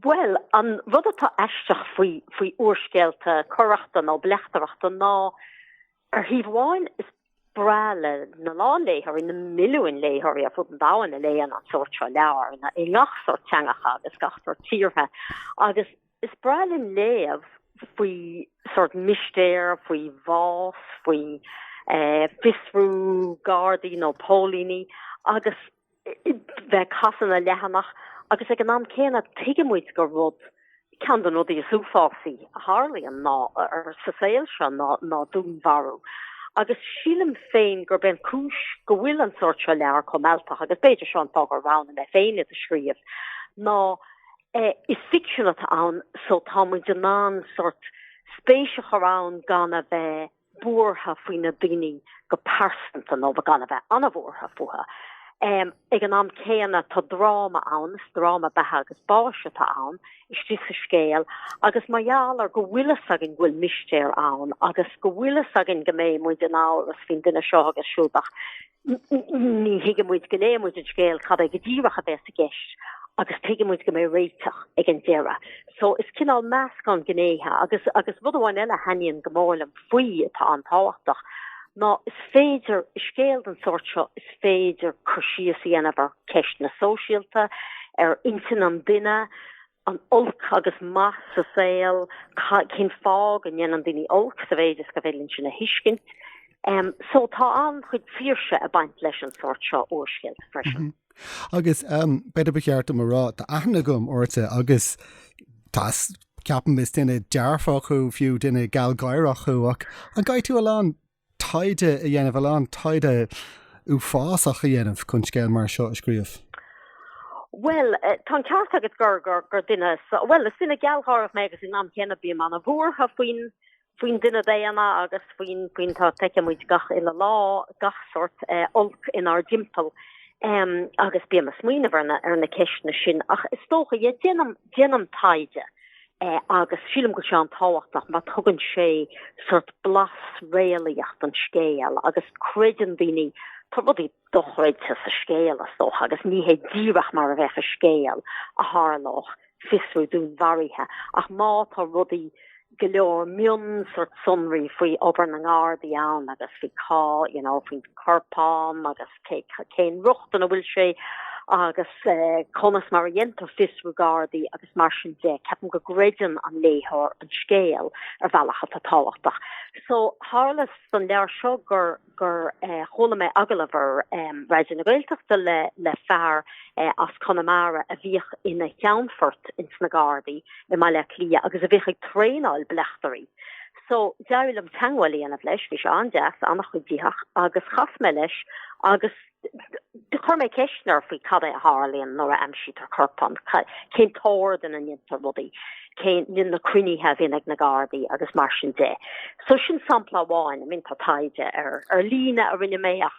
Bhuel, an rud atá aisteach faoi faoi úrscéalta coireachta nó bleachtaireachta ná ar thaobh amháin is breá lena lán léitheoirí na milliúin léitheoirí ar fud an domhain a léann an sórt seo leabhar na i ngach sórt teangacha agus gach sórt tíortha agus is breá linn léamh faoi sórt mistéir faoi bhás faoi eh, fiosrú gardaí nó pólíní agus bheith ag casadh na leathanach agus ag an am céanna tuigimid gur rud ceann de na rudaí is uafásaí a tharlaíonn ná sa saol seo ná ná dúnmharú agus sílim féin gurb é an cúis go bhfuil an sórt seo leabhar chomh mealltach agus b'fhéidir seo an fáth gur roghnaigh mé féin iad a scríobh ná is ficsean atá ann so tá muid in ann sórt spéis a chur ann gan a bheith buartha faoi na daoine go pearsanta nó ba gan a bheith an-bhuartha fúthu. Ag an am céanna tá dráma ann, is dráma beatha agus báis atá ann istigh sa scéal agus mar gheall ar go bhfuil a fhios againn go bhfuil mistéir ann agus go bhfuil a fhios againn go mbeidh muid in amhras faoin duine seo agus siúd ach, Ní thuigfidh muid go léann muid an scéal cad é go díreach a bhéas i gceist agus tuigeann muid go mbeidh réiteach ag an deireadh. So is cineál meascán gnéithe agus agus rud amháin eile a thaitníonn go mór liom faoi atá an-tábhachtach ná is féidir i scéal den sórt seo is féidir cur síos a dhéanamh ar cheisteanna sóisialta, ar intinn an duine, ar olc agus maith sa saol, cén fáth go ndéanann daoine olc sa mhéid is gur féidir linn sin a thuiscint. So tá an-chuid saoirse ag baint leis an sórt seo úrscéal freisin. Agus b'fhéidir ba cheart dom a rá, tá aithne agam ortsa agus tá, ceapaim, is duine dearfach thú, fiú duine gealgháireach thú ach an gcaithfidh tú a lán taighde a dhéanamh, a lán taighde uafásach a dhéanamh chun scéal mar seo a scríobh? Bhuel, tá an ceart agat gur, gur, gur duine, bhuel, is duine gealgháireach mé agus ag an am céanna bím an-bhuartha faoin, faoin duine daonna agus faoin, faoin, tá, feiceann muid gach uile lá gach sórt olc inár dtimpeall um agus bím ag smaoineamh ar na, ar na ceisteanna sin ach is dócha, yeah, déanaim, déanaim taighde. agus sílim go bhfuil sé an-tábhachtach mar tugann sé sórt blas réalaíoch don scéal agus creideann daoine tá rudaí dochreidte sa scéal is dócha agus ní hé díreach mar a bheadh i scéal a tharlódh fiosrú dúnmharaithe ach má tá rudaí go leor mion sórt sonraí faoi obair na nGardaí ann agus faoi cá you know faoin corpán agus cén riocht ina bhfuil sé agus eh, conas mar a dhéantar fiosrú gardaí agus mar sin de ceapaim go gcreideann an léitheoir an scéal ar bhealach atá tábhachtach. So tharla san leabhar seo gur gur eh, chuala mé agallamh ar eh, Raidió na Gaeltachta le, le fear eh, as Conamara a bhíodh ina cheannfort ins na gardaí i mBaile Átha Cliath agus a bhíodh ag traenáil bleachtairí. So, d'éirigh liom teagmháil a dhéanamh leis, bhí sé an-deas, an-chuiditheach, agus chas mé leis agus chuir mé ceisteanna air faoi cad é a tharlaíonn nuair a aimsítear corpán, cén t-ord ina ndéantar rudaí, cén na cruinnithe a bhíonn ag na Gardaí agus mar sin de. So sin sampla amháin, ach bíonn, tá taighde ar líne a rinne mé ach,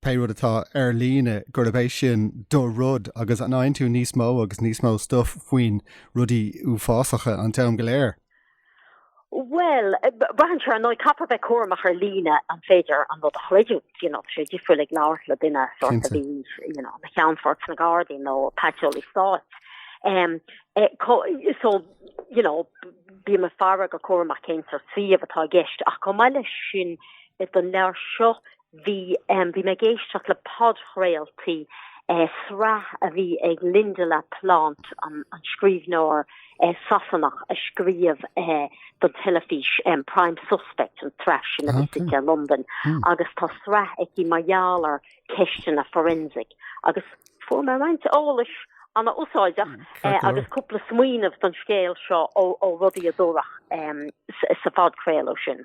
pé rud atá ar líne, gurb é sin do rud agus an bhfaigheann tú níos mó agus níos mó stuif faoi rudaí uafásacha an t-am go léir? Bhuel, braitheann sé ar ndóigh, caithfear bheith cúramach ar líne an féidir an rud a chreidiúint, you know, tá sé difriúil ag labhairt le duine sort a bhí, you know, ina cheannfort sna Gardaí nó paiteolaí stáit. Um, eh, co- so, you know, bím ag faire go cúramach cén sórt suíomh atá i gceist ach chomh maith leis sin don leabhar seo bhí mé ag éisteacht le podchraoltaí sraith a bhí ag Lynda La Plante, an scríbhneoir Sasanach a scríobh don teilifís Prime Suspect an tsraith sin a bhí suite i Londain agus tá sraith aici mar gheall ar cheisteanna forensic agus fuair mé roinnt eolais an-úsáideach agus cúpla smaoineamh don scéal seo ó rudaí a dúradh sa phodchraoladh sin.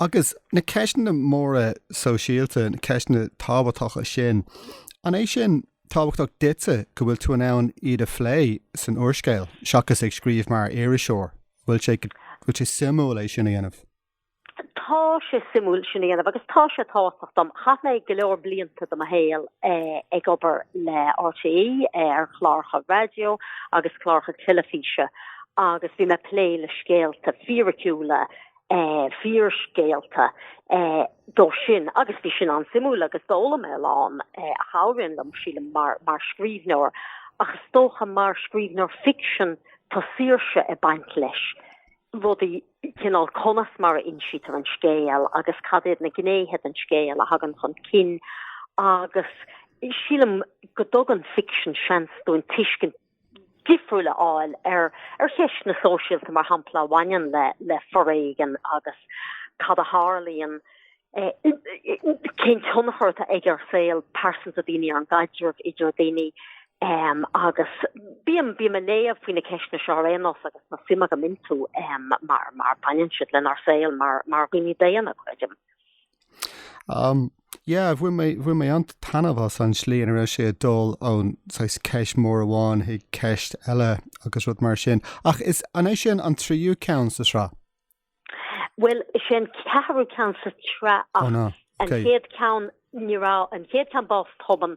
Agus na ceisteanna móra sóisialta, na ceisteanna tábhachtacha sin, an é sin tábhachtach duitse go bhfuil tú in ann iad a phlé san úrscéal seachas ag scríobh mar iriseoir? Bhfuil sé, bhfuil sé suimiúil é sin a dhéanamh? Tá sé suimiúil sin a dhéanamh agus tá sé tábhachtach dom. Chaith mé go leor blianta de mo shaol eh, ag obair le RTÉ eh, ar chláracha raidió agus cláracha teilifíse agus bhí mé ag plé le scéalta fíriciúla fíorscéalta iad sin agus bhí sin an-suimiúil agus d'fhoghlaim mé a lán a chabhraíonn liom sílim mar mar scríbhneoir ach is dócha mar scríbhneoir fiction tá saoirse ag baint leis rudaí cineál conas mar a insítear an scéal agus cad iad na gnéithe den scéal a thagann chun cinn agus sílim go dtugann fiction seans dúinn tuiscint difriúil a fháil ar cheisteanna sóisialta, mar shampla, a bhaineann le foréigean agus cad a tharlaíonn, cén tionchar atá aige ar shaol pearsanta daoine, ar an gcaidreamh idir daoine agus bím, bím ag léamh faoi na ceisteanna seo ar aon nós agus tá suim agam iontu mar mar baineann siad lenár saol mar dhaoine daonna, creidim. Um, yeah, bhain mé, bhain mé an-taitneamh as an slí ina raibh sé ag dul ón saghas ceist mór amháin chuig ceist eile agus rud mar sin. Ach is an é sin an tríú ceann sa sra? Well, sé an ceathrú ceann sa sraith ach oh, no. okay. an chéad ceann ní raibh an chéad ceann Bás Tobann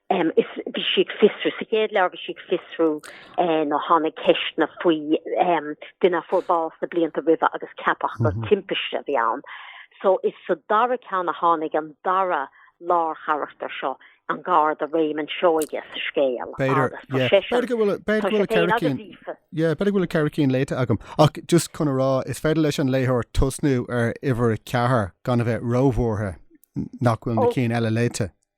Um, is bhí sí ag fiosrú sa chéad leabhar, bhí sí ag fiosrú eh, nó tháinig ceisteanna faoi um, duine a fuair bás na blianta roimhe agus ceapadh gur mm -hmm. timpiste a bhí ann. So is sa dara ceann a tháinig an dara lárcharachtar seo an garda Réamonn Seoighe sa scéal. B'fhéidir, yeah. B'fhéidir go bhfuil b'fhéidir ceithre cinn. Yeah, b'fhéidir go bhfuil ceithre cinn léite agam. Ach just chun a rá is féidir leis an léitheoir tosnú ar uimhir ceathair gan a bheith róbhuartha nach bhfuil na oh. cinn eile léite.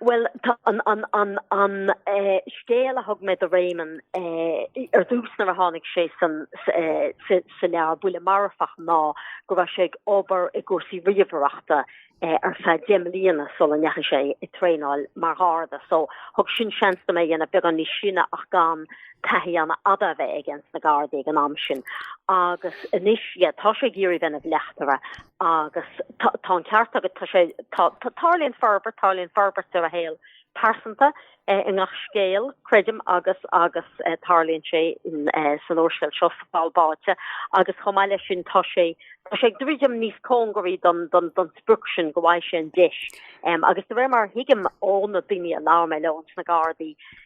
Bhuel tá an an an an eh, scéal a thug mé do Réamonn eh, ar dtús nuair a tháinig sé san sa eh, sa- sa leabhar Buille Marfach ná go raibh sé ag obair i gcúrsaí ríomhaireachta eh, ar feadh deich mbliana sula ndeachaigh sé i traenáil mar gharda so thug sin seans dom é a dhéanamh beagán níos sine ach gan taithí an-fhada a bheith aige sna Gardaí ag an am sin agus anois yeah tá sé ag iarraidh bheith ina bhleachtaire agus tá an ceart agat tá sé tarlaíonn forbairt tarlaíonn forbairt ar a shaol pearsanta eh, i ngach scéal creidim agus agus eh, tarlaíonn sé eh, san úrscéal seo Sa Pholl Báite agus chomh maith leis sin tá sé tá sé ag druidim níos cóngaraí don don don sprioc sin go bhfaighidh sé an deis agus de réir mar a thuigim ó na daoine a labhair mé leo sna Gardaí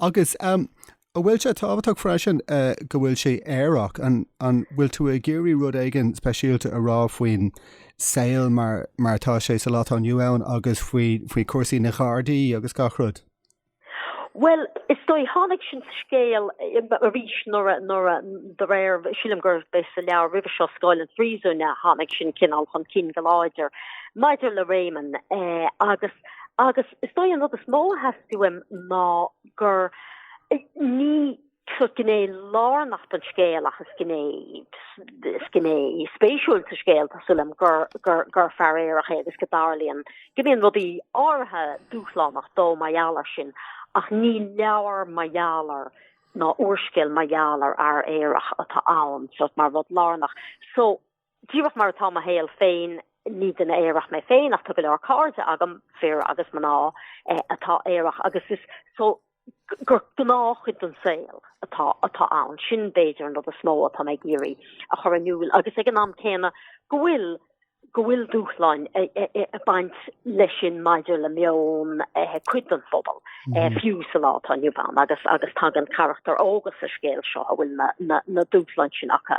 Agus an bhfuil sé tábhachtach freisin go bhfuil sé aerach? An bhfuil tú ag iarraidh rud éigin speisialta a rá faoin saol mar atá sé sa lá atá inniu ann agus faoi chúrsaí na nGardaí agus gach rud? Bhuel, is dóigh, tháinig sin sa scéal arís nuair a, nuair a, de réir, sílim gurbh é sa leabhar roimhe seo, Scáil an Phríosúin, a tháinig sin cineál chun cinn go láidir maidir le Réamonn. Eh, agus, agus, Is dóigh an rud is mó a theastaigh uaim ná gur ní sórt gné lárnach don scéal ach is gné is gné spéisiúil sa scéal tá súil agam gur gur gur fear aerach é agus go dtarlaíonn go mbíonn rudaí áirithe dúshlánach dó mar gheall air sin ach ní leabhar mar gheall ar ná úrscéal mar gheall ar fhear aerach atá ann sórt mar rud lárnach so Díreach mar atá mo shaol féin, ní duine aerach mé féin ach tá go leor cairde agam, fir agus mná, atá aerach agus is gur gnáthchuid den saol atá ann. Sin, b'fhéidir, an rud is mó atá mé ag iarraidh a chur in iúl agus ag an am céanna go bhfuil go bhfuil dúshláin ag baint leis sin maidir le meon cuid den phobal, fiú sa lá atá inniu ann agus tagann carachtair óga sa scéal seo a bhfuil na dúshláin sin acu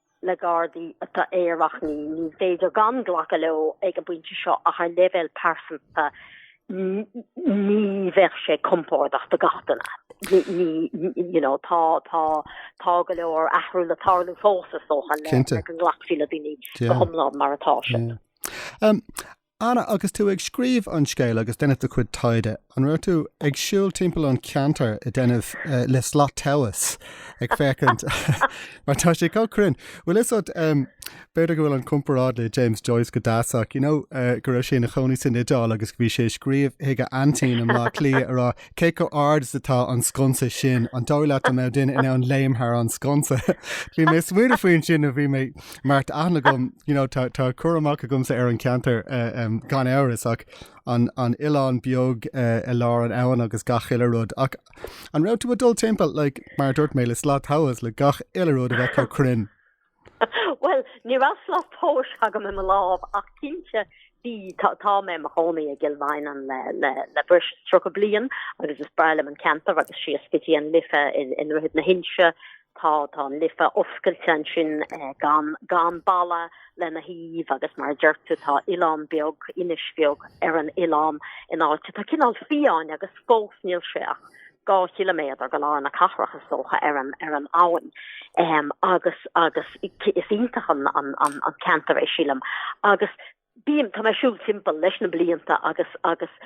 le Gardaí atá aerach ní ní féidir gan glacadh leo ag an bpointe seo ach ar leibhéal pearsanta ní bheadh sé compordach do gach duine. Ní you know tá tá tá go leor athrú le tarlú fós is dócha le Cinnte. le go nglacfaí le daoine go Yeah. hiomlán mar atá sé. Yeah. Um, Anna, Agus tú ag scríobh an scéil agus déanamh do chuid taighde, an raibh tú ag siúl timpeall an cheantair i ndéanamh le slat tomhais ag féachaint mar tá sé chomh cruinn. Bhuel is ait, b'fhéidir go bhfuil an chomparáid le James Joyce go deas ach, you know, go raibh sé ina chónaí san Iodáil agus bhí sé ag scríobh chuig a aintín i mBleá Cliath a rá, Cé chomh hard is atá an sconsa sin, an dóigh leat go mbeadh duine in ann léim thar an sconsa? Bhí mé ag smaoineamh faoi sin a bhí mé mar tá aithne agam, you know, tá, tá cur amach agamsa ar an ceantar uh, um, gan amhras ach an, an oileán beag uh, i lár an abhainn agus gach uile rud ach an raibh tú ag dul timpeall like, mar a dúirt mé le slat tomhais le gach uile rud a bheith chomh cruinn. Bhuel, ní raibh slat tomhais agam i mo lámh ach cinnte bhí, tá mé i mo chónaí i gCill Mhaighneann le breis is tríocha bliain agus is breá liom an ceantar agus síos go dtí an Life i nDroichead na hInse, tá an Life oscailte ansin gan balla lena thaobh agus mar a deir tú tá oileán beag, inis bheag ar an oileán in áit atá cineál fiáin agus fós níl sé ach. dhá chiliméadar go lár na cathrach is dócha ar an ar an abhainn um agus agus is iontach an an an an ceantar é sílim agus bím tá mé ag siúl timpeall leis na blianta agus agus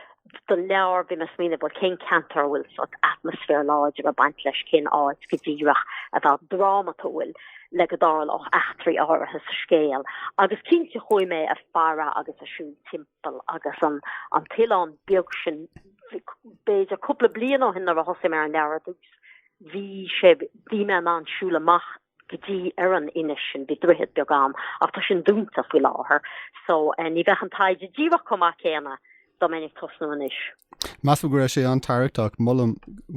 don leabhar bhí mé ag smaoineamh bhuel cén ceantar a bhfuil sórt atmaisféar láidir ag baint leis cén áit go díreach a bheadh drámatúil le go dtarlódh eachtraí áirithe sa scéal agus cinnte chuaigh mé ag faire agus ag siúl timp eall agus an an t-oileán beag sin b'fhéidir cúpla bliain ó shin nuair a thosaigh mé ar an leabhar ar dtús bhí sé bhí mé in ann siúl amach go dtí ar an inis sin bhí droichead beag ann ach tá sin dúnta faoi láthair so ní bheadh an taighde díreach chomh maith céanna dá mbeinn ag tosnú anois. Measaim go raibh sé an-tarraingteach, molaim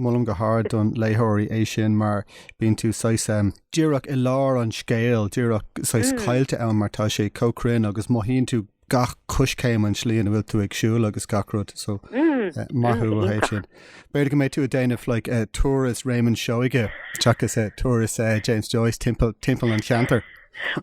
molaim go hard do na léitheoirí é sin mar bíonn tú saghas díreach i lár an scéil, díreach saghas caillte ann mar tá sé chomh cruinn agus mothaíonn tú gach coiscéim an tslí ina bhfuil tú ag siúl agus gach rud so maith thú ó thaobh sin. B'fhéidir go mbeidh tú ag déanamh like, uh, turas Réamonn Seoige seachas uh, turas uh, James Joyce timpeall, timpeall an cheantair.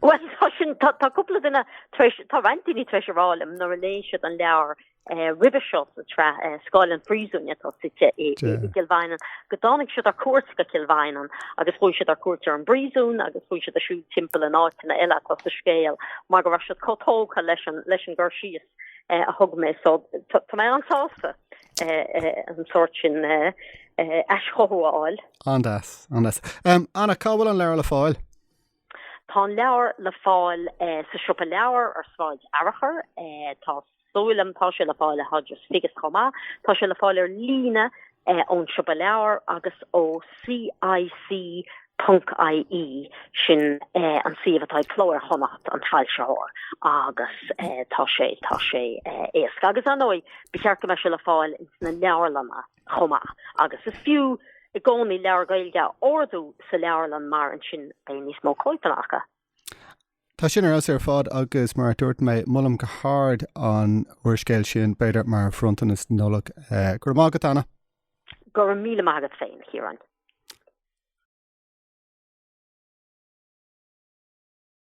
Well tá sin tá tá cúpla duine tréis tá roinnt daoine tréis a rá liom nuair a léigh siad an leabhar eh, roimhe seo sa tsraith eh, Scáil an Phríosúin atá suite i, i, i gCill Mhaighneann. go dtáinig siad ar cuairt go Cill Mhaighneann agus chuaigh siad ar cuairt ar an bpríosún agus chuaigh siad ag siúl timpeall na háiteanna eile atá sa scéal mar go raibh siad chomh tógtha leis an leis an gcur síos eh, a thug mé so tá mé an-sásta eh, eh, an sórt sin aischothú a fháil. An-deas, an-deas. Um, Anna, cá bhfuil an leabhar le fáil? Tá an leabhar le fáil sa siopa leabhar ar Sráid Fhearchair. Tá súil agam tá sé le fáil ag Hodges Figgis chomh maith. Tá sé le fáil ar líne ón siopa leabhar agus ó CIC.ie, sin an suíomh atá ag Cló Iar-Chonnacht, an foilsitheoir, agus tá sé, tá sé éasca. Agus ar ndóigh, ba cheart go mbeidh sé le fáil sna leabharlanna. chomh maith, agus is fiú i gcónaí leabhar Gaeilge a ordú sa leabharlann mar ansin beidh níos mó cóipeanna acu. Tá sin ar fheabhas ar fad agus, mar a dúirt mé, molaim go hard an úrscéal sin, b'fhéidir mar bhronntanas Nollag. Go raibh maith agat, Anna. Go raibh míle maith agat féin, a Chiaráin.